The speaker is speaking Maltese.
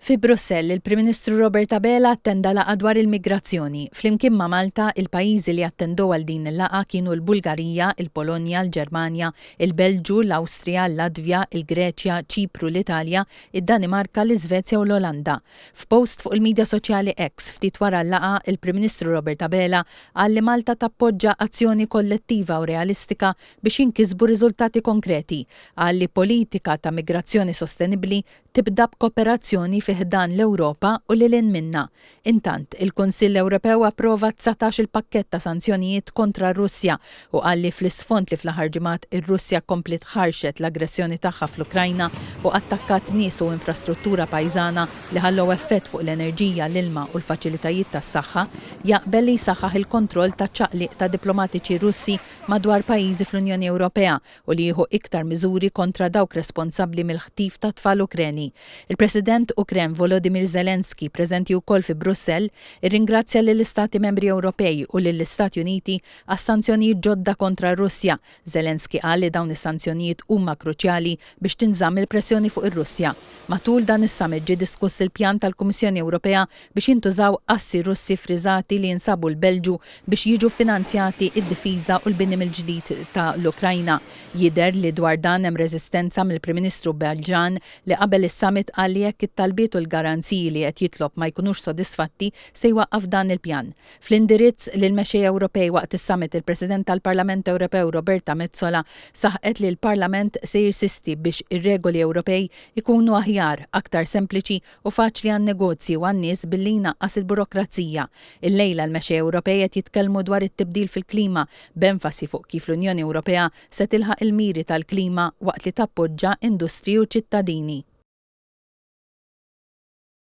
Fi Brussell, il-Prim Ministru Robert Abela attenda laqgħa dwar il-migrazzjoni. Flimkien ma' Malta, il-pajjiżi li attendew għal din il-laqgħa kienu l-Bulgarija, il-Polonja, l-Ġermanja, il-Belġu, l-Awstrija, l-Latvja, il-Greċja, Ċipru, l-Italja, id-Danimarka, l-Iżvezja u l-Olanda. F'post fuq il-midja soċjali X, ftit wara l-laqgħa, il-Prim Ministru Robert Abela qal li Malta tappoġġa azzjoni kollettiva u realistika biex jinkisbu riżultati konkreti, qal li politika ta' migrazzjoni sostenibbli tibda b'kooperazzjoni fi ħdan l-Ewropa u lil hinn minnha. Intant, il-Kunsill Ewropew approva dsatax il-pakkett ta' sanzjonijiet kontra r-Russja u qal li fl-isfond li fl-aħħar ġimgħat ir-Russja kompliet ħarxet l-aggressjoni tagħha fl-Ukrajna u attakkat nies u infrastruttura pajżana li ħallew effett fuq l-enerġija, l-ilma u l-faċilitajiet tas-saħħa, jaqbel li jsaħħaħ il-kontroll taċ-ċaqliq ta' diplomatiċi Russi madwar pajjiżi fl-Unjoni Ewropea u li jieħu iktar miżuri kontra dawk responsabbli mill-ħtif ta' tfal Ukreni. Il-President Ukren Volodymyr Zelensky, preżenti wkoll fi Brussell, irringrazzja lill-Istati Membri Ewropej u lill-Istati Uniti għas-sanzjonijiet ġodda kontra r-Russja. Zelensky qal li dawn is-sanzjonijiet huma kruċjali biex tinżamm il-pressjoni fuq ir-Russja. Matul dan is-summit ġie diskuss il-pjan tal-Kummissjoni Ewropea biex jintużaw assi Russi ffriżati li jinsabu l-Belġu biex jiġu ffinanzjati d-difiża u l-bini mill-ġdid ta' l-Ukrajna. Jidher li dwar dan hemm reżistenza mill-Prim Ministru Belġan li qabel is-summit qal li jekk it-talbiet u l-garanziji li qed jitlob ma jkunux sodisfatti se jwaqqaf dan il-pjan. Fl-indirizz lill-mexxejja Ewropej waqt is-summit il-President tal-Parlament Ewropew Roberta Metsola saħqet li l-Parlament se jirsisti biex ir-regoli Ewropej ikunu aħjar, aktar sempliċi u faċli għan-negozji u għan-nies billi jnaqqas il-burokrazija. Illejla l-mexxejja Ewropej qed jitkellmu dwar it-tibdil fil-klima, b'enfasi fuq kif l-Unjoni Ewropea se tilħaq il-miri tal-klima waqt li tappoġġa industriji u ċittadini.